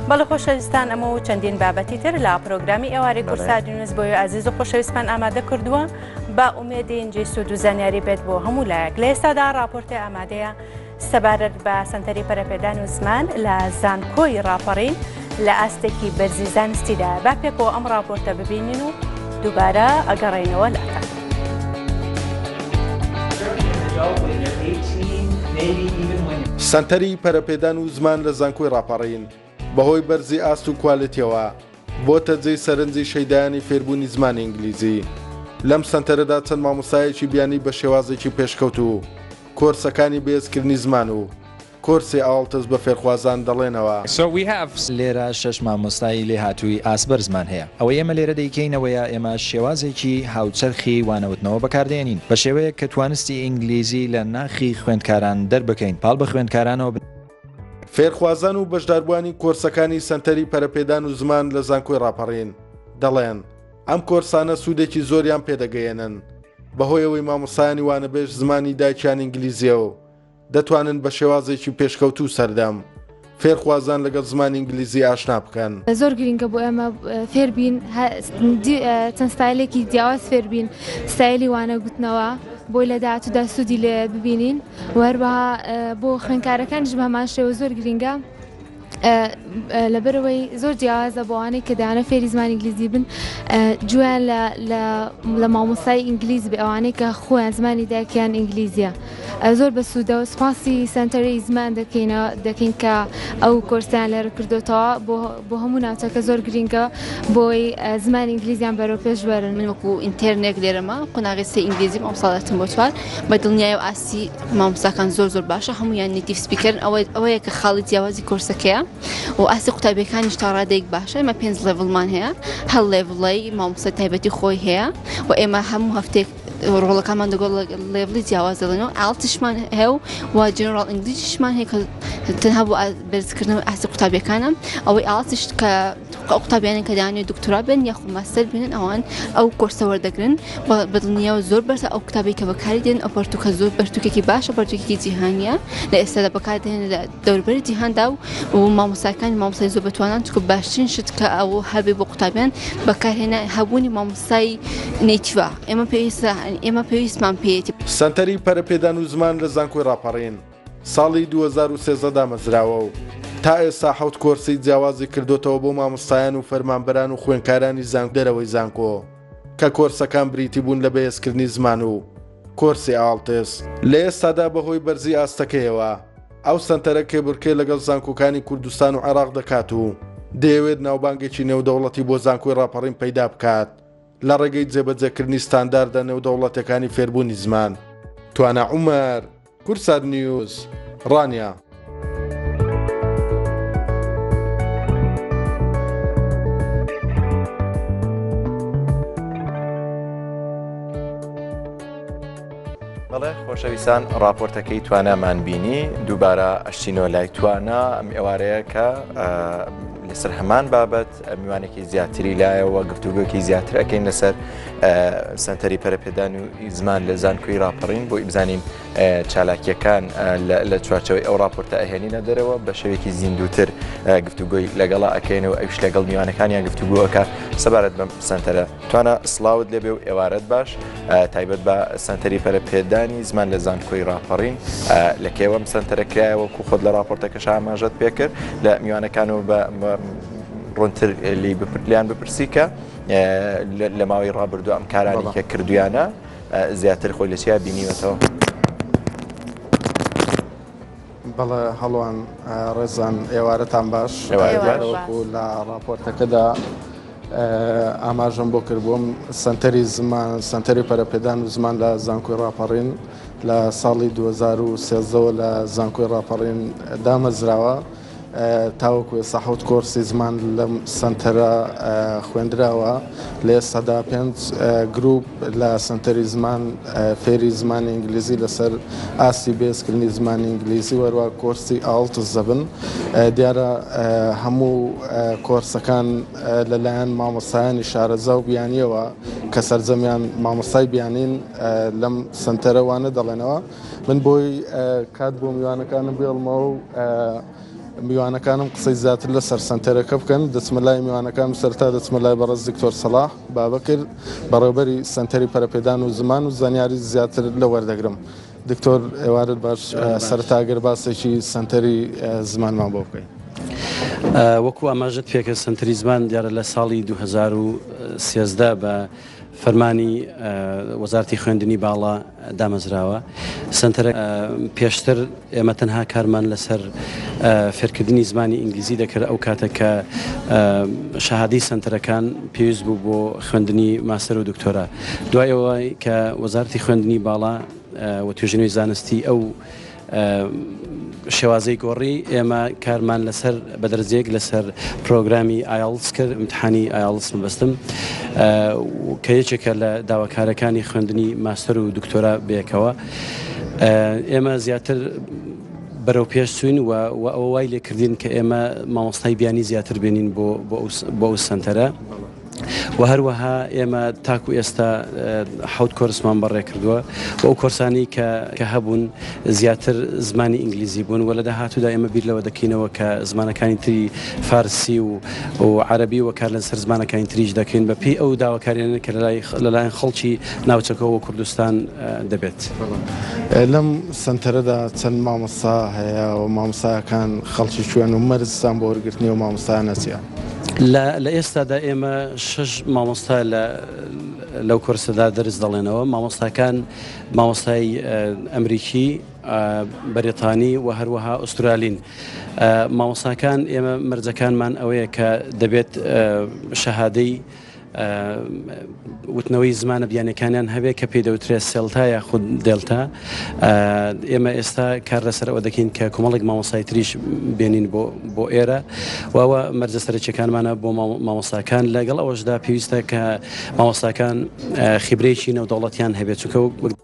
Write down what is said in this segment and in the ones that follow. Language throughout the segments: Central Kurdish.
بەڵە خۆشەویستان ئەمە و چەندین بابەتی تر لە پرۆگرامی ئێواری کورسادینس بۆی ئازیز و خۆشەویستمان ئامادە کردووە با ئومێدینجی سوود و زانیاری بێت بۆ هەموو لایەک لە ئێستادا راپۆرتی ئامادەیە سەبارەت بە سەنتەری پەرەپێدان و زمان لە زانکۆی ڕاپەڕین لە ئاستێکی بەرزی زانستیدا با پێکەوە ئەم ڕاپۆرتە ببینین و دووبارە ئەگەڕێنەوە لەکە. سەنتەری پەرەپێدان و زمان لە زانکۆی ڕاپەڕین بەهۆی بەرزی ئاست و کوالێتیەوە بۆتە جێی سەرنجی شەیدایانی فێربوونی زمانی ئینگلیزی. لەم سەنتەرەدا چەند مامۆستایەکی بیانی بە شێوازێکی پێشکەوتوو کۆرسەکانی بەهێزکردنی زمان و کۆرسی ئاڵتس بە فێرخوازان دەڵێنەوە. لێرە شەش مامۆستای لێهاتووی ئاست بەرزمان هەیە. ئەوەی ئێمە لێرە دەیکەینەوەیە ئێمە شێوازێکی هاوچەرخی وانەوتنەوە بەکاردێنین بە شێوەیەک کە توانستی ئینگلیزی لە ناخی خوێندکاران دەربکەین پاڵ بە خوێندکارانەوە بنێین. فێرخوازان و بەشداربووانی کۆرسەکانی سەنتەری پەرەپێدان و زمان لە زانکۆی ڕاپەڕین دەڵێن، ئەم کۆرسانە سوودێکی زۆریان پێدەگەیەنن، بەهۆیەوەی مامۆستایانی وانەبێژ زمانی دایکیان ئینگلیزییە و دەتوانن بە شێوازێکی پێشکەوتوو سەردەم فێرخوازان لەگەڵ زمانی ئینگلیزی ئاشنا بکەن. زۆر گرنگە بۆ ئێمە فێربین چەند ستایلێکی جیاواز فێربین ستایلی وانە گوتنەوە بۆی لە داهاتوودا سوودی لێ ببینین. و هەروەها بۆ خوێنکارەکانیش بە هەمان شێوە زۆر گرینگە لەبەرەوەی زۆر جیازە بۆوانەی کە دانە فێری زمانی ئینگلیزی بن جویان لە مامۆسای ئینگلیز بە ئەوانەی کە خۆیان زمانی داکیان ئینگلیزیە زۆر بە سوودە و سپاسی سنتەری زمان دەکەینەوە دەکەین کە ئەو کۆرسیان لەرە کردوتەوە بۆ بۆ هەموو ناوچەکە زۆر گرینگە بۆی زمان ئینگلیزیان بەرەو پێش بەرن من وەکو ئینتەرنێک لێرەما قۆناغی سێ ئینگلیزیم ئەم ساڵەتم بۆ چوار بە دڵنیای و ئاستی مامۆستاکان زۆر زۆر باشە هەمویان نیتیف سپیکەرن ئەوە ئەوەیە کە خاڵی جیاوازی کۆرسەکەیە و ئاستی قوتابیەکانیش تا ڕادێک باشە ئمە پێنج لێڤڵمان هەیە هەڵ لێڤڵی مامۆستا تایبەتی خۆی هەیە و ئێمە هەموو هەفتێک ڕۆڵەکانمان دەگۆ لێڤڵی جیاواز دەڵێن و ئاڵتشمان هەیە و وا جنرال ئینگلیزیشمان هەیە کە تەنها بۆ بەرزکردنەوە ئاستی قوتابیەکانم ئەوەی ئاڵتش کە ئەو قوتابیانە کە دانێ دکتۆرا بن یاخو ماستەر بنن ئەوان ئەو کۆرسە وەردەگرن بەدڵنییا و زۆر بەرسە ئەو قوتابی کە بەکاری دێن ئەو پەرتوکە زۆر پەرتوکێکی باشە پەرتوکێکی جیهانیە لە ئێستا لە بەکاردێن لە دەوربەری جیهاندا و مامۆستاکانی مامۆستای زۆر بەتوانان چکە باشترین شت کە ئەو هەبێ بۆ قوتابیان بەکارهێنا هەبوونی مامۆستای نەیتیوە ئێمە پێویستە ئێمە پێویستمان پێێتی. سەنتەری پەرەپێدان و زمان لە زانکۆی ڕاپەڕین ساڵی دوو هەزار و سێزدە دامەزراوە و تا ئێستا حەوت کۆرسی جیاوازی کردۆتەوە بۆ مامۆستایان و فەرمانبەران و خوێنکارانی زانکۆ دەرەوەی زانکۆ کە کۆرسەکان بریتی بوون لە بەهێزکردنی زمان و کۆرسی ئاڵتس لە ئێستادا بەهۆی بەرزی ئاستەکەیەوە ئەو سەنتەرە کێبڕکێ لەگەڵ زانکۆکانی کوردستان و عێراق دەکات و دەیەوێت ناوبانگێکی نێودەوڵەتی بۆ زانکۆی ڕاپەڕین پەیدا بکات لە ڕێگەی جێبەجێکردنی ستانداردە نێودەوڵەتیەکانی فێربوونی زمان. توانا عومەر. کوردسات نیوز، ڕانیە. بەڵێ خۆشەویستان ڕاپۆرتەکەی توانامان بینی دووبارە ئەشتینۆ لای توانا ئەم ئێوارەیە کە لەسەر هەمان بابەت میوانێکی زیاتری لایەوە گفتوگوکی زیاتر ئەەکەین لەسەر سنتەری پەرپێدان و زمان لە زانکۆی راپەڕین بۆ ئیبزانین چالاکیەکان لە چوارچەوەی ئەو راپۆرتە ئەهێنینە دەرەوە بە شێوێکی زیندوتر گفتوگوی لەگەڵا ئەەکەین و ئەوش لەگەڵ میوانەکانیان گفتوگوەکە سەبارەت بەم سنتەرە توانە سلااوت لەبێ و ئێوارەت باش تایبەت بە سنتەری پەرپێدانی زمان لە زانکۆی راپەڕین لە کێوەم سنتەرەکرایەوە کو خۆت لە راپۆرتەکە شاماژەت پێکرد لە میوانەکان و بە ڕونتر لی بپرلیان بپرسی کە لە ماوەی ڕابردوو ئەم کارانی کە کردویانە زیاتر خۆی لە چیا بینیوەتەوە بەڵە هەڵوان ڕێزان ئێوارەتان باش لە ڕاپۆرتەکەدا ئاماژەم بۆ کردبووم سنتەری زمان سنتەری پەرەپێدان و زمان لە زانکۆی ڕاپەڕین لە ساڵی 2013ەوە لە زانکۆی ڕاپەڕین دامەزراوە تاوەکو ئێستا حەوت کۆرسی زمان لەم سەنتەرە خوێندراوە، لە ئێستادا پێنج گروپ لە سەنتەری زمان فێری زمانی ئینگلیزی لەسەر ئاستی بێزکردنی زمانی ئینگلیزی و هەروە کۆرسی ئاڵتس دەبن. دیارە هەموو کۆرسەکان لەلایەن مامۆستایانی شارەزا و بیانییەوە کە سەرجەمیان مامۆستای بیانین لەم سەنتەرە وانە دەڵێنەوە. من بۆی کات بۆ میوانەکانم بێڵمەوە و میوانەکانم قسەی زیاتر لەسەر سەنتەرەکە بکەن دەچمە لای میوانەکان و سەرتا دەچمە لای بەڕێز دکتۆر سەڵاح بابەکر بەڕێوبەری سەنتەری پەرەپێدان و زمان و زانیاری زیاتر لە وەردەگرم دکتۆر ئێوارت باش سەرتاگەر باسێکی سەنتەری زمانمان بۆ بکەین. وەکو ئاماژەت پێکە سنتری زمان دیارە لە ساڵی 2013 بە فەرمانی وەزارتی خوێندنی باڵا دامەزراوە سەنتەرە پێشتر ئێمە تەنها کارمان لەسەر فێرکردنی زمانی ئینگلیزی دەکرد ئەو کاتە کە شەهادی سنتەرەکان پێویست بوو بۆ خوێندنی ماسەر و دکتۆرا دوایەوە کە وەزارتی خوێندنی باڵا و توێژنەوەی زانستی ئەو شێوازی گۆڕی ئێمە کارمان لەسەر بەدرزێک لەسەر پرۆگرامی ئایلس کرد امتحانی ئایلس مەبستم کە یەکێکە لە داواکارەکانی خوێندنی ماستەر و دکتۆرا بێکەوە ئێمە زیاتر بەرەو پێش سوین و ئەو وای لێکردین کە ئێمە مامۆستای بیانی زیاتر بێنین بۆ بۆ ئەو سنتەرە. وە هەروەها ئێمە تاکو ئێستا حەوت کۆرسمان بەڕێ کردووە و ئەو کۆرسانی کە کە هەبوون زیاتر زمانی ئینگلیزی بوون وە لە داهاتوودا ئێمە بیر لەوە دەکەینەوە کە زمانەکانی تری فارسی و و عەرەبی وە کار لەسەر زمانەکانی تریش دەکەین بە پێی ئەو داواکاریانە کە لەلای لەلایەن خەڵکی ناوچەکەوە و کوردستان دەبێت. لەم سەنتەرەدا چەند مامۆستا هەیە و مامۆستایەکان خەڵکی کوێن و مەرجتان بۆ وەرگرتنی ئەو مامۆستایانە چیە؟ لە ئێستادا ئێمە شش مامۆستا لەو کۆرسەدا دەرس دەڵێنەوە مامۆستاکان مامۆستای ئەمریکی بەریتانی و هەروەها ئوسترالین مامۆستاکان ئێمە مەرجەکانمان ئەوەیە کە دەبێت شەهادەی وتنەوەی زمانە بیانەکانیان هەبێت کە پێی دەوترێت سێلتا یا خود دلتا ئێمە ئێستا کار لەسەر ئەوە دەکەین کە کۆمەڵێک مامۆسایتریش بێنین بۆ بۆ ئێرە واوە مەرجە سەرچەکانمانە بۆ مامۆستاکان لەگەڵ ئەوەشدا پێویستە کە مامۆستاکان خیبرێکی نەودەوڵەتیان هەبێت چونکە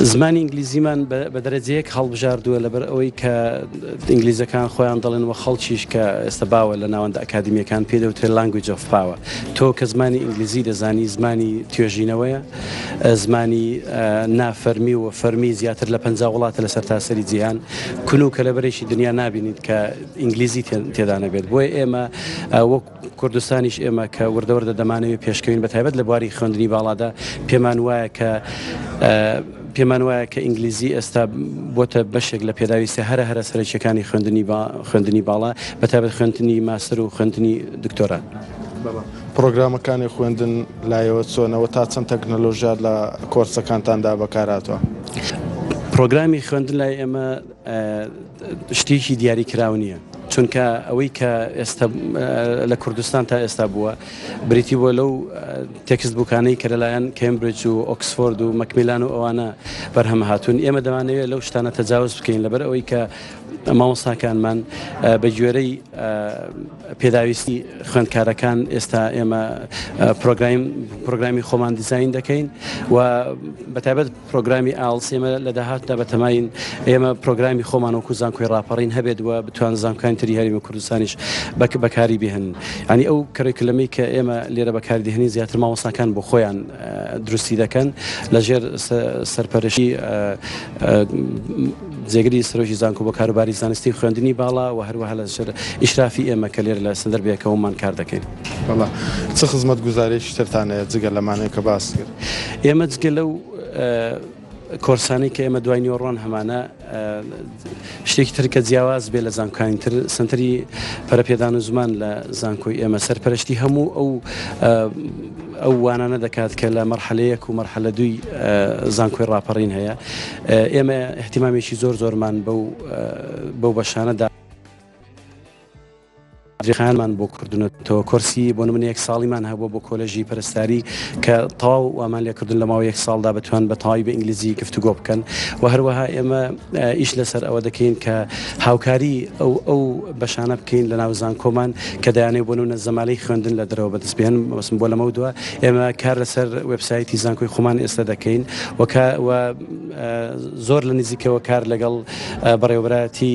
زمانی ئینگلیزیمان بە دەرەجەیەک هەڵبژاردووە لەبەر ئەوەی کە ئینگلیزەکان خۆیان دەڵێن وە خەڵکیش کە ئێستا باوە لە ناوەندە ئەکادمیەکان پێ دەوترێ لانگویج ئۆف پاوە تۆ کە زمانی ئینگلیزی دەزانی زمانی توێژینەوەیە زمانی نافەرمی و فەرمی زیاتر لە پ وڵاتە لە سەر تاسەری جیهان کون و کەلەبەرێکی دنیا نبینیت کە ئینگلیزی تێدانەبێت بۆیە ئێمە وەک کوردستانیش ئێمە کە وردە وردە دەمانەوێت پێشکەوین بە تایبەت لە بواری خوێندنی باڵادا پێمان وایە کە پێمان وایە کە ئینگلیزی ئێستا بۆتە بەشێک لە پێداویستە هەرە هەرە سەرچەکانی خوێندنی با خوێندنی باڵا بە تایبەت خوێندنی ماستر و خوێندنی دکتۆرە. پرۆگرامەکانی خوێندن لایەوە چۆنەوە تا چەند تەکنەلۆژیا لە کۆرسەکانتاندا بەکاراتوە. پرۆگرامی خوێندن لای ئێمە شتیکی دیاری کراو نییە چونکە ئەوەی کە ئێستا لە کوردستان تا ئێستا بووە بریتی بۆ لەو تێکست بووکانەی کە لەلایەن کمبرج و ئۆکسفۆرد و مەکمیلان و ئەوانە بەرهەم هاتوون ئێمە دەوانەوێت لەو شتانە تەجاوز بکەین لەبەر ئەوەی کە مامۆستاکانمان بە گوێرەی پێداویستی خوێندکارەکان ئێستا ئێمە پرۆگرایم پرۆگرامی خۆمان دیزین دەکەین و بەتابەت پرۆگرامی ئاڵس ئێمە لە داهاتدا بەتەماین ئێمە پرۆگرامی خۆمان وەکو زانکۆی ڕاپەڕین هەبێت وە بتوان زانکان تری هەرمی کوردستانیش بەک بەکاری بهێن ینی ئەو کڕێکلەمەی کە ئێمە لێرە بەکاردهێنی زیاتر ماوەساکان بۆ خۆیان دروستی دەکەن لەژێر سەرپەرشی جێگری سرۆژی زانکۆ بۆ کاروباری زانستی خوێندنی باڵا و هەروەها لە سەر ئیشرافی ئێمە کە لێر لە سندەر بێکەوەمان کار دەکەین بەڵا چ خزمەت گوزارێکی ترتانەیە جگە لەمانەیە کە باس کرد. ئێمە جگە لەو کۆرسانەی کە ئێمە دوای نیۆڕۆن هەمانە شتێکی ترکە جیاواز بێ لە زانکانی تر سنتری پەرپێدان و زمان لە زانکۆی ئێمە سەرپەرشتی هەموو ئەو ئەو وانانە دەکات کە لە مەرحەلەیەک و مەرحەلە دوی زانکۆی ڕاپەڕین هەیە ئێمە احتیمامێکی زۆر زۆرمان بەو بەو بەشانەدا دریخانمان بۆ کردنە تۆ کۆرسی بۆ من یەک ساڵیمان هەبوو بۆ کۆلژی پرستاری کە تاو وامان لێکردن لە ماوە یەک ساڵدا بتوان بە تاوی بە ئینگلیزی گفتوگۆ بکەن و هەروەها ئێمە ئیش لەسەر ئەوە دەکەین کە هاوکاری ئەو ئەو بەشانە بکەین لە ناو زانکۆمان کە دایانێ بۆن و نە زەمالەی خوێندن لە درەوە بەدەست بێن بەسم بۆ لەمە دووە ئێمە کار لەسەر وبسایتی زانکۆی خۆمان ئێستا دەکەین وەکە زۆر لە نزیکەوە کار لەگەڵ بەڕێوەبراتی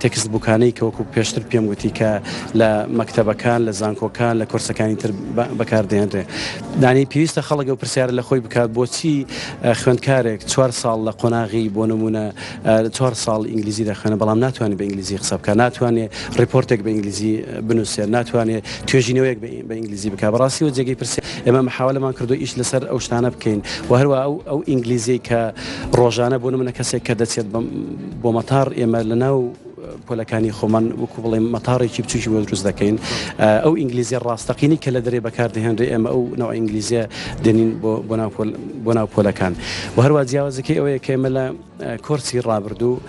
تێکست بووکانەی کە وەکوو پێشتر پێم وتی کە لە مەکتەبەکان لە زانکۆکان لە کۆرسەکانی تر بەکاردێنرێ دانی پێویستە خەڵگە و پرسیارە لە خۆی بکات بۆچی خوێندکارێک چوار ساڵ لە قۆناغی بۆ نمونە چوار ساڵ ئینگلیزی دەخوێنە بەڵام ناتوانێت بە ئینگلیزی قسە بکە ناتوانێت ریپۆرتێک بە ئینگلیزی بنووسێت ناتوانێت توێژینەوەیەک بە ئینگلیزی بکە بەڕاستی و جێگەی پرسی ئێمە مححاولەمان کردو ئیش لەسەر ئەو شتانە بکەین و هەروە ئەو ئەو ئینگلیزی کە ڕۆژانە بۆ منە کەسێک کە دەچێت بەم بۆ مەتاڕ ئێمە لە ناو پۆلەکانی خۆمان وەکو بڵێم مەتاڕێکی بچوکی بۆ دروست دەکەین ئەو ئینگلیزیە ڕاستەقینی کە لە دەرێ بەکاردەهێنرێ ئێمە ئەو ناو ئینگلیزیە دێنین بۆ ناو پۆلەکان و هەروە جیاوازەکەی ئەوەیە کە ئێمە لە کۆرسی ڕابردوو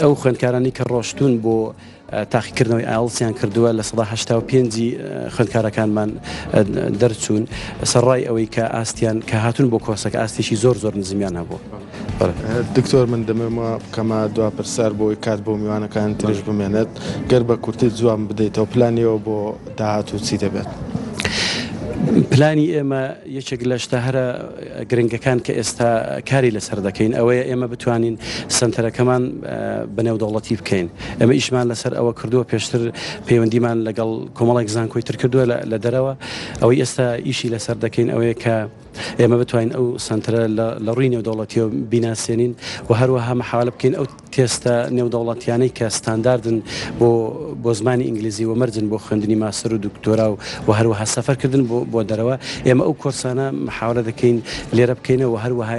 ئەو خوێندکارانی کە ڕۆشتون بۆ ئەو تاقیکردنەوەی ئایڵتسیان کردووە لە سەدا هەشتا و پێنج ی خوێندکارەکانمان دەرچوون سەرڕای ئەوەی کە ئاستیان کە هاتون بۆ کۆسەکە ئاستێکی زۆر زۆر نزمیان هەبوو. دکتۆر من دەمەوێت وا بکەمە دوا پرسیار بۆی کات بۆ میوانەکان تریش بمێنێت گەر بە کورتی جوان بدەیتەوە پلانی ئێوە بۆ داهاتوو چی دەبێت؟ پلانی ئێمە. یەکێک لە شتە هەرە گرنگەکان کە ئێستا کاری لەسەر دەکەین ئەوەیە ئێمە بتوانین سەنتەرەکەمان بە نێودەوڵەتی بکەین. ئێمە ئیشمان لەسەر ئەوە کردووە پێشتر پەیوەندیمان لەگەڵ کۆمەڵێک زانکۆی تر کردووە لە دەرەوە. ئەوەی ئێستا ئیشی لەسەر دەکەین ئەوەیە کە ئێمە بتوانین ئەو سەنتەرە لە ڕووی نێودەوڵەتیەوە بیناسێنین و هەروەها محاوەلە بکەین ئەو تێستە نێودەوڵەتیانەی کە ستانداردن بۆ بۆ زمانی ئینگلیزی و مەرجن بۆ خوێندنی ماسەر و دکتۆرا و و هەروەها سەفەرکردن بۆ بۆ دەرەوە ئێمە ئەو کۆرسانە محاولە دەکەین لێرە بکەینەوە هەروەها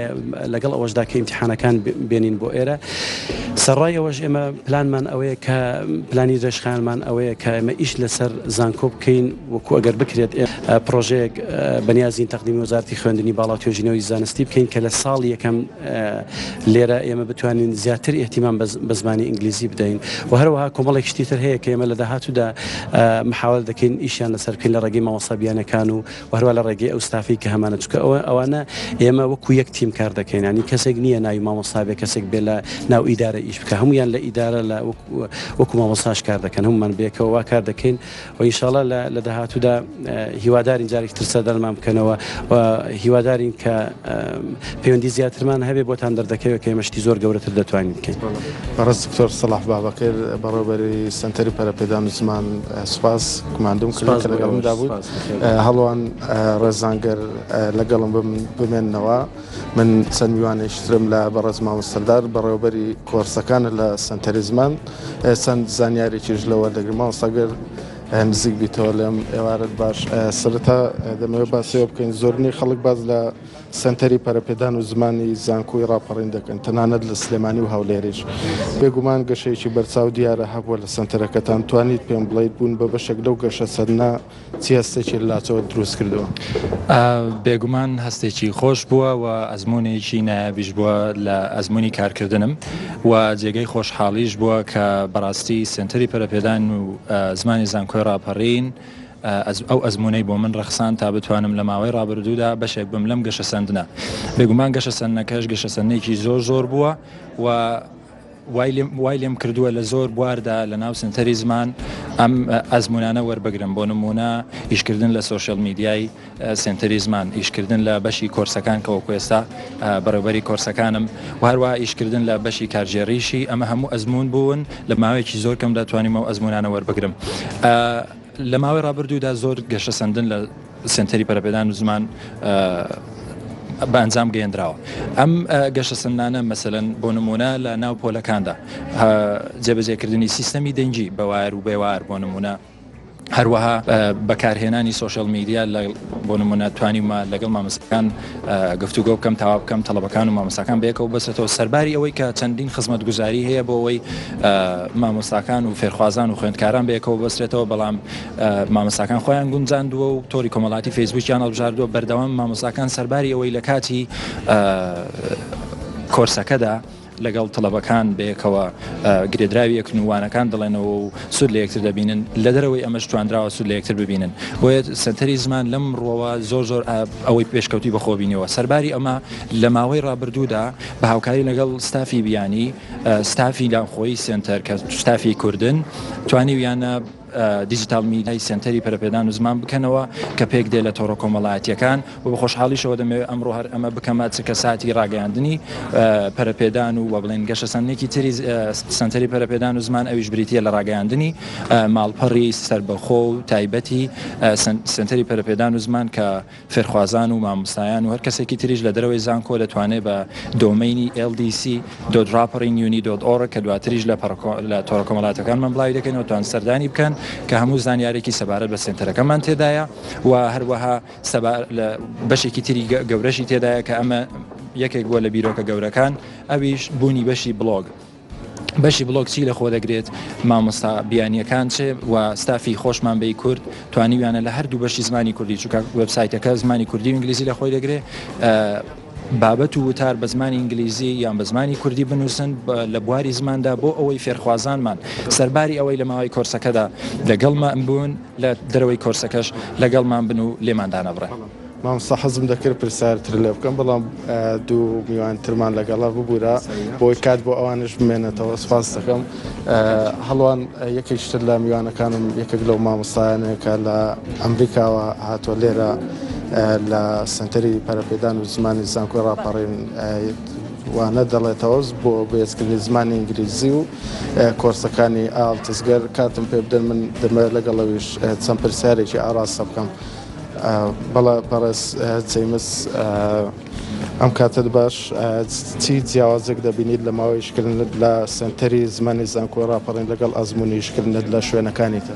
لەگەڵ ئەوەشدا کە ئیمتحانەکان بێنین بۆ ئێرە سەرڕای ئەوەش ئێمە پلانمان ئەوەیە کە پلانی درێژخانمان ئەوەیە کە ئێمە ئیش لەسەر زانکۆ بکەین وەکو ئەگەر بکرێت پرۆژەیەک بەنیازین تەقدیمی وەزارتی خوێندنی باڵا توێژینەوەی زانستی بکەین کە لە ساڵ یەکەم لێرە ئێمە بتوانین زیاتر ئێتیمان بە زمانی ئینگلیزی بدەین و هەروەها کۆمەڵێک شتی تر هەیە کە ئێمە لە داهاتوودا محاول دەکەین ئیشیان لەسەر بکەین لە ڕێگەی مامۆسابیانەکان و وهروە لە ڕێگەی ئەو ستافی کە هەمانە چکە ئەوە ئەوانە ئێمە وەکو یەک تیم کار دەکەینانی کەسێک نییە ناوی مامۆسابێ کەسێک بێ لە ناو ئیدارە ئیش بکە هەمویان لە ئیدارە لە وەکو مامۆساش کار دەکەن هەمومان بێکەوە کار دەکەین وە ئینشاڵا لە لە داهاتوودا هیوادارین جارێکی تر سەردانمان بکەنەوە و هیوادارین کە پەیوەندی زیاترمان هەبێ بۆتان دەردەکەوێت کە ئێمە شتی زۆر گەورەتر دەتوانین بکەین بەڕێز دکتۆر صلاح بابەکر بەڕێوەبەری سەنتەری پەرەپێدان و زمان سوپاس گوماندوم کردن کە لەگەڵمدا بوویت هەڵوان ڕێزانگەر لەگەڵم بمێننەوە. من چەند میوانێکی ترم لە بەڕێز مامۆ سەردار بەڕێوەبەری کۆرسەکانە لە سنتەری زمان چەند زانیارێکیش لەوە دەگرم ماوەسەگەر نزیک بیتەوە لەم ئێوارەت باش سرەتا دەمەوێت باسەوە بکەین زۆرنی خەڵک باز لە سنتەری پەرپێدان و زمانی زانکۆی ڕاپەڕین دەکەن تەنانەت لە سلێمانی و هەولێریش بێگومان گەشەیەکی بەرچاو دیارە هەبووە لە سنتەرەکەتان توانیت پێم بڵیت بوون بە بەشێک لەو گەشە سەرنا چی هەستێکی لە لاچەوەت دروست کردووە؟ بێگومان هەستێکی خۆش بووە و ئەزموونێکی نایابیش بووە لە ئەزموونی کارکردنم و جێگەی خۆشحاڵیش بووە کە بەڕاستی سێنتەری پەرەپێدان و زمانی زانکۆی ڕاپەڕین ئەو ئەزموونەی بۆ من ڕەخساند تا بتوانم لە ماوەی ڕابردوودا بەشێک بم لەم گەشەسەندنە بێگومان گەشەسەندنەکەش گەشەسەندنێکی زۆر زۆر بووە و وای لێم کردووە لە زۆر بواردا لە ناو سنتەری زمان ئەم ئەزمونانە وەربگرم بۆ نمونە ئیشکردن لە سوۆشل میدیای سنتەری زمان ئیشکردن لە بەشی کۆرسەکان کەەوە کوێستا بەڕێبەری کۆرسەکانم واروا ئیشکردن لە بەشی کارژێریشی ئەمە هەموو ئەزمون بوون لە ماوەیەکی زۆر کەم دەتوانیمەوە ئەزمونانە وەربگرم لە ماوەی ڕابردوودا زۆر گەشە سندن لە سەنتەری پەرەپێدان و زمان بە ئەنجام گەیەندراوە ئەم گەشە سندانە مەسەن بۆ نمونە لە ناو پۆلەکاندا جێبەجێکردنی سیستەمی دەنگی بەوار و بێوار بۆ نمونە هەروەها بەکارهێنانی سوۆشل میدیا لە بۆ نمونە توانیمە لەگەڵ مامەسەکان گفتوگە بکەم تاوا بکەم تەڵەبەکان و مامەساکان بێکەوە بەسێتەوە سەرباری ئەوەی کە چەندین خزمەت گوزاری هەیە بۆ ئەوەی مامۆستاکان و فێرخوازان و خوێندکاران بێکەوە بەسرێتەوە بەڵام مامۆستاکان خۆیان گونجاندووە و تۆری کۆمەڵاتی فەیسبووکیان هەڵبژاردووە، بەردەوام مامۆستاکان سەرباری ئەوەی لە کاتی کۆرسەکەدا لەگەڵ تەڵەبەکان بەیەکەوە گرێدراوی ئەکرن و وانەکان دەڵێنەوە و سوود لە یەکتر دەبینن، لە دەرەوەی ئەمەش توانراوە سوود لە یەکتر ببینن، بۆیە سەنتەری زمان لەم ڕووەوە زۆر زۆر ئەوەی پێشکەوتووی بەخۆوە بینیوە، سەرباری ئەمە لە ماوەی ڕابردوودا بە هاوکاری لەگەڵ ستافی بیانی، ستافی ناوخۆیی سەنتەر کە ستافی کوردن توانیویانە، دیجیتاڵ میدیای سەنتەری پەرەپێدان و زمان بکەنەوە کە پێک دێ لە تۆڕە کۆمەڵایەتییەکان و بە خۆشحاڵیشەوە دەمەوێ ئەمڕۆ هەر ئەمە بکەمە چرکە ساتی ڕاگەیاندنی پەرەپێدان و وە بڵێین گەشەسەندنێکی تری سەنتەری پەرەپێدان و زمان ئەویش بریتییە لە ڕاگەیاندنی ماڵپەڕی سەربەخۆ و تایبەتی سەنتەری پەرەپێدان و زمان کە فێرخوازان و مامۆستایان و هەر کەسێکی تریش لە دەرەوەی زانکۆ دەتوانێت بە دۆمەینی LDC dot Rappering Uni dot org کە دواتریش لە لە تۆڕە کۆمەڵاتەکانمان بڵاوی دەکەینەوە توان سەردانی بکەن کە هەموو زانیارێکی سەبارەت بە سێنتەرەکەمان تێدایە و هەروەها بەشێکی تری گەورەشی تێدایە کە ئەمە یەکێک بووە لە بیرۆکە گەورەکان ئەویش بوونی بەشی بڵۆگ. بەشی بڵۆگ چی لە خۆ دەگرێت؟ مامۆستا بیانیەکان چ و ستافی خۆشمان بەی کورد توانیویانە لە هەردوو بەشی زمانی کوردی چوکە وێبسایتەکە زمانی کوردی و ئینگلیزی لە خۆی دەگرێ بابەت و وتار بە زمانی ئینگلیزی یان بە زمانی کوردی بنووسن لە بواری زماندا بۆ ئەوەی فێرخوازانمان سەرباری ئەوەی لە ماوەی کۆرسەکەدا لەگەڵمان بوون لە دەرەوەی کۆرسەکەش لەگەڵمان بن و لێماندانەبڕن. مامۆستا حەزم دەکرد پرسیار تر لێ بکەم بەڵام دوو میوان ترمان لەگەڵا ببوورە بۆی کات بۆ ئەوانش بمێنێتەوە سپاس دەکەم هەڵوان یەکێکتر لە میوانەکانم یەکێک لەو مامۆستایانێکە لە ئەمریکاوە هاتووە لێرە لە سنتەری پەرەپێدان و زمانی زانکۆی ڕاپەڕین وانە دەڵێتەوەز بۆ بەێزکردنی زمانی ئینگلیزی و کۆرسەکانی ئالتزگەر کاتم پێ بدەن من دەمە لەگەڵەویش چەند پرسیارێکی ئاراستە بکەم بەڵێ بەڕێز جەیمس ئەم کاتت باش چی جیاوازێک دەبینیت لە ماوەی شکردنت لە سنتەری زمانی زانکۆ ڕاپەڕین لەگەڵ ئەزمموی شکردنت لە شوێنەکانی تر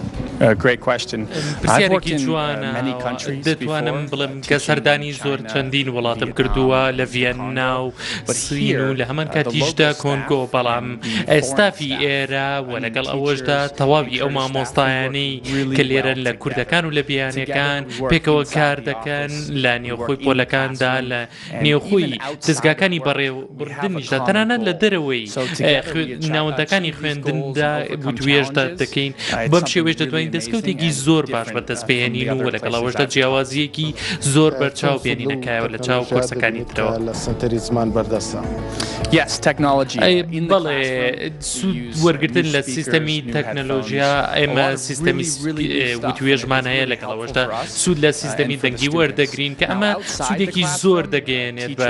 دەتوانم بڵم کە سەردانی زۆر چەندین وڵاتم کردووە لە ڤەن ناو سین و لە هەمان کاتیشدا کۆنگۆ بەڵام ئێستافی ئێرە وە لەگەڵ ئەوەشدا تەواوی ئەو مامۆستایانی کە لێرەن لە کوردەکان و لە بیانیەکان پێکەوە کار دەکەن لە نێوخۆی پۆلەکاندا لە نێوخۆی دەستگاکانی بەڕێوەبردنیشدا تەنانەت لە دەرەوەی ناوەندەکانی خوێندندا وتوێژدا دەکەین بەم شێوێش دەدوین دەستکەوتێکی زۆر باش بە دەست بهێنین و لەگەڵەوەشدا جیاوازیەکی زۆر بەرچاو بێنینەکایەوە لە چاو کۆرسەکانی ترەوە لە سنتەری زمان بەردەستە یاس تەکنۆلژی بڵێ سوود وەرگرتن لە سیستەمی تەکنەلۆژیا ئێمە سیستەمی وتوێژمان هەیە لەگەڵ ئەوەشدا سوود لە سیستەمی دەنگی وەردەگرین کە ئەمە سوودێکی زۆر دەگەێنێت بە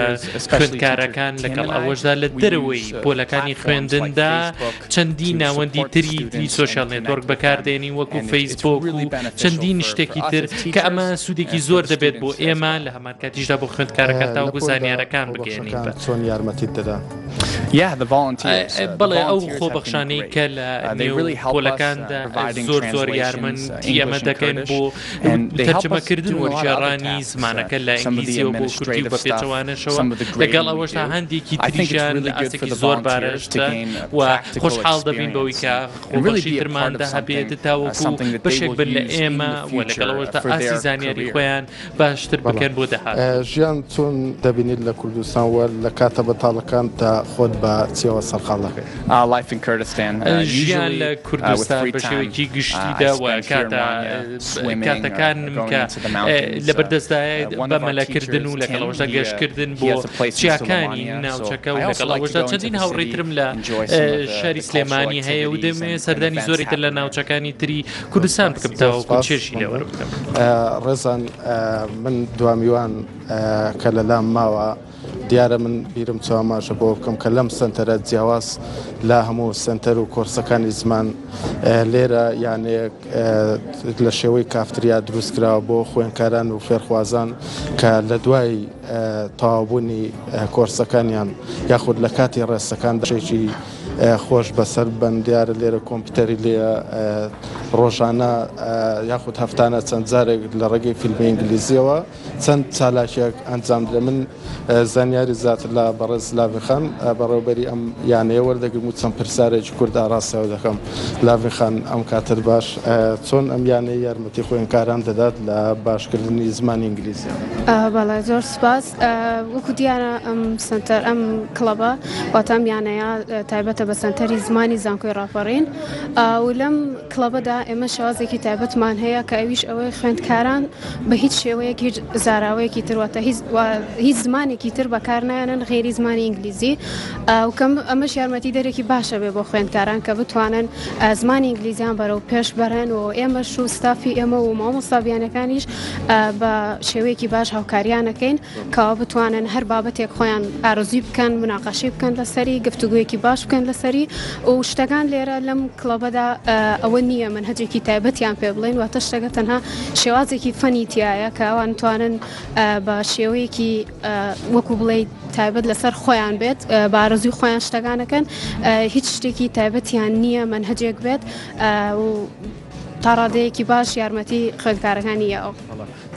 خوێندکارەکان لەگەڵ ئەوەشدا لە دەرەوەی پۆلەکانی خوێندندا چەندی ناوەندی تری دی سوۆشال نێتۆرک بەکاردێنی وەکو فەیسبوک چەندین شتێکی تر کە ئەمە سوودێکی زۆر دەبێت بۆ ئێمە لە هەمان کاتیشدا بۆ خوێندکارەکان تاوەکو زانیارەکان بگەێنین چۆن یارمەتیت دەدەن. بەڵێ ئەو خۆبەخشانەی کە لە پۆلەکاندا زۆر زۆر یارمن ئەمە دەکەن بۆ تەرجەمەکردن وەرگێڕانی زمانەکە لە ئینگلیزی و بۆ کوردی بە پێچەوانەشەوە لەگەڵ ئەوەشدا هەندێکی تریشیان لە ئاستێکی زۆر بارەشتە و خۆشحاڵ دەبین بەوەی کە خۆبەخشی درماندا هەبێت تاوەکو بەشێک بن لە ئێمە و لەگەڵەوەشدا ئاسی زانیاری خۆیان باشتر بکەن بۆ داهاتوو. ژیان چۆن دەبینیت لە کوردستان و لە کاتە بەتاڵەکانتدا خۆت بە چییەوە سەرقاڵ دەکەیت؟ ژیان لە کوردستان بە شێوەیەکی گشتیدا و کاتەکانم کە لەبەردەستدایە بە مەلەکردن و لەگەڵ ئەوەشدا گەشتکردن بۆ چیاکانی ناوچەکە و لەگەڵ ئەوەشدا چەندین هاوڕێی ترم لە شاری سلێمانی هەیە و دەمەوێت سەردانی زۆری تر لە ناوچەکانی تری کوردستان بکەم تاوەکو چێژی لێ وەربگرم. ڕێزان من دوامیوان کە لە لام ماوە دیارە من بیرم چواماژە بۆ بکەم کە لەم سنتەرە جیاواز لە هەموو سنتەر و کۆرسەکانی زمان لێرە یانەیەک لە شێوەی کافتریا دروستکراوە بۆ خوێنکاران و فێرخوازان کە لە دوای تەواوبوونی کۆرسەکانیان یاخود لە کاتی ڕێستەکان دژێکی خۆش بەسەر بن دیارە لێرە کۆمپیوتەری لێ ڕۆژانە یاخود هەفتانە چەند جارێک لە ڕێگەی فیلمی ئینگلیزیەوە چەند چالاکیەک ئەنجام درێ من زانیاری زیاتر لە بەڕێز لاڤخان بەڕێوبەری ئەم یانەیە وەردەگرم و چەند پرسیارێکی کورد ئاراستەوە دەکەم لاڤخان ئەم کاتر باش چۆن ئەم یانەیە یارمەتی خوێنکاران دەدات لە باشکردنی زمانی ئینگلیزی بەڵێ زۆر سپاس وەکو دیارە ئەم سەنتەر ئەم کڵەبە واتە ئەم یانەیە تایبەتە بە سەنتەری زمانی زانکۆی ڕاپەڕین و لەم کڵەبەدا ئێمە شوازێکی تایبەتمان هەیە کە ئەویش ئەوەی خوێندکاران بە هیچ شێوەیەک هیچ زاراوەیەکی ترواتە هیچ زمانێکی تر بەکار نایەنن غێری زمانی ئینگلیزی ئەوکەم ئەمەش یارمەتی دەرێکی باشە بێ بۆ خوێندکاران کە بتوانن زمانی ئینگلیزیان بەرەو پێش بەرن و ئێمە شوستافی ئێمە و مامۆستابیانەکانیش بە شێوەیەکی باش هاوکاریانەکەین کەوا بتوانن هەر بابەتێک خۆیان ئارزوی بکەن مناقەشی بکەن لەسەری گفتوگویەکی باش بکەن لەسەری و شتەکان لێرە لەم کڵەبەدا ئەوە نییە من هەجێکی تایبەتیان پێ بڵێن واتە شتەکە تەنها شێوازێکی فەنی تایە کەوان توانن بە شێوەیەکی وەکو بڵێ تایبەت لەسەر خۆیان بێت بارزوی خۆیان شتەکانەکەن هیچ شتێکی تایبەتیان نییە من هەجێک بێت و تا ڕادەیەکی باش یارمەتی خوێندکارەکانی یەوە.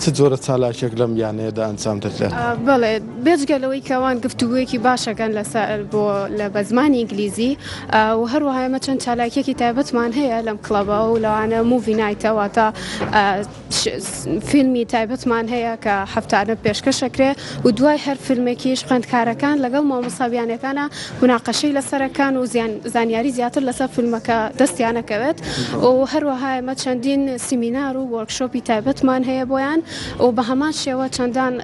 چ جۆرە چالاکێک لەم یانەیەدا ئەنجام دەدرێت؟ بەڵێ بێجگە لەوەی کەوان گفتوگویەکی باشەکەن لەسەر بۆ لە بە زمانی ئینگلیزی و هەروەهایمە چەند چالاکیەکی تایبەتمان هەیە لەم کڵەبەوە و لەوانە موڤینایتەوە تا فیلمی تایبەتمان هەیە کە هەفتانە پێشکەشەکرێ و دوای هەر فیلمێکیش خوێندکارەکان لەگەڵ مامۆسابیانەکانە مناقەشەی لەسەرەکان و زیان زانیاری زیاتر لەسەر فیلمەکە دەستیانەکەوێت و هەروەها ئمە چەندین سیمینار و وەرکشۆپی تایبەتمان هەیە بۆیان و بە هەمان شێوە چەندان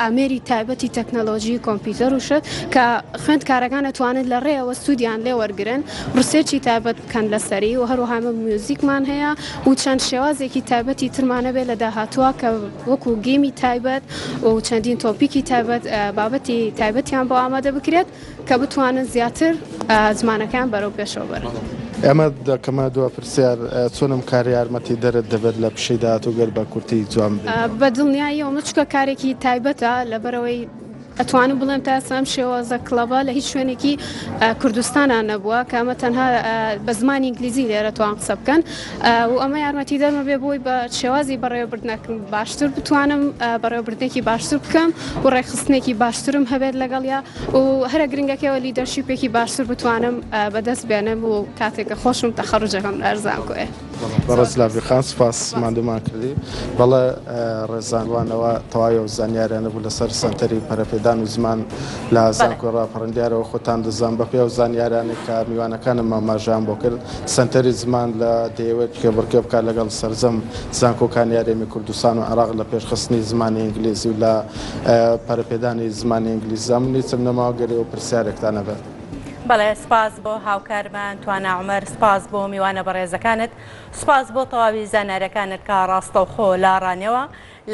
ئامێری تایبەتی تەکنەلۆژی کۆمپیوتەر و شت کە خوێندکارەکان ئەتوانن لە ڕێیەوە سوودیان لێ وەرگرن ڕسێرچی تایبەت بکەن لەسەری و هەروەها میوزیکمان هەیە و چەند شێوازێکی تایبەتی ترمان هەبێت لە داهاتووە کە وەکوو گێمی تایبەت و چەندین تۆپیکی تایبەت بابەتی تایبەتیان بۆ ئامادە بکرێت. کە بتوانن زیاتر زمانەکەیان بەرەو پێشەوە بەرن. ئەمە دەکەمە دو پرسیار چۆنم کار یارمەتی دەرت دەبێت لە پیشەی داهاتوو گەر بە کورتی جوان بە دڵنیاییەوە مچکە کارێکی تایبەتە لەبەرەوەی ئەتوانم بڵێم تا سام شێوازە کڵەبە لە هیچ شوێنێکی کوردستانان نەبووە کامە تەنها بە زمانی ئینگلیزی لێرە توان قسە بکەن و ئەمە یارمەتیدەرمە بێ بۆی بە شێوازی بەڕێوەبردنەکم باشتر بتوانم بەڕێوەبردنێکی باشتر بکەم و ڕێکخستنێکی باشترم هەبێت لەگەڵیا و هەرە گرنگەکەەوە لیدەرشیپێکی باشتر بتوانم بەدەست بێنم و کاتێکە خۆشم تەخەڕجەکەم لەرزان کوێ بەڕز لابیخان سپاس مادومان کردی بەڵێ ڕێزانوانەوە تەواوی و زانیارانە بوو لەسەر سەنتەری پەرەپێدان و زمان لە زانکۆی ڕاپەڕندیارەوە خۆتان دەزان بەپێ و زانیارانێک کە میوانەکانم ماماژان بۆ کرد سەنتەری زمان لە دەیەوێت کێبڕکێ بکات لەگەڵ سەرجەم زانکۆکانی هەرێمی کوردستان و عێراق لە پێشخستنی زمانی ئینگلیزی و لە پەرەپێدانی زمانی ئینگلیزدا. من هیچم نەماوە گەر ئێوە پرسیارێکتان هەبێت. بەڵێ، سپاس بۆ هاوکارمان توانا عومەر، سپاس بۆ میوانە بەڕێزەکانت، سپاس بۆ تەواوی زانایرەکانت کە ڕاستەوخۆ لە ڕانێوا،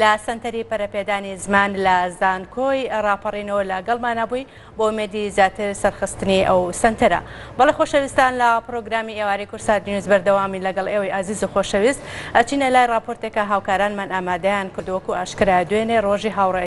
لە سەنتەری پەرەپێدانی زمان لە زانکۆی ڕاپەڕینەوە لە گەڵمانا بووی بۆ ئومێدی زیاتر سەرخستنی ئەو سەنتەرە. بەڵێ خۆشەویستان لە پڕۆگرامی ئێوارەی کورسات نیوز بەردەوامین لەگەڵ ئێوەی ئازیز و خۆشەویست ئەچینە لای ڕاپۆرتێک کە هاوکارانمان ئامادەیان کردووە وەکو ئاشکرایە دوێنێ ڕۆژی هاوڕێ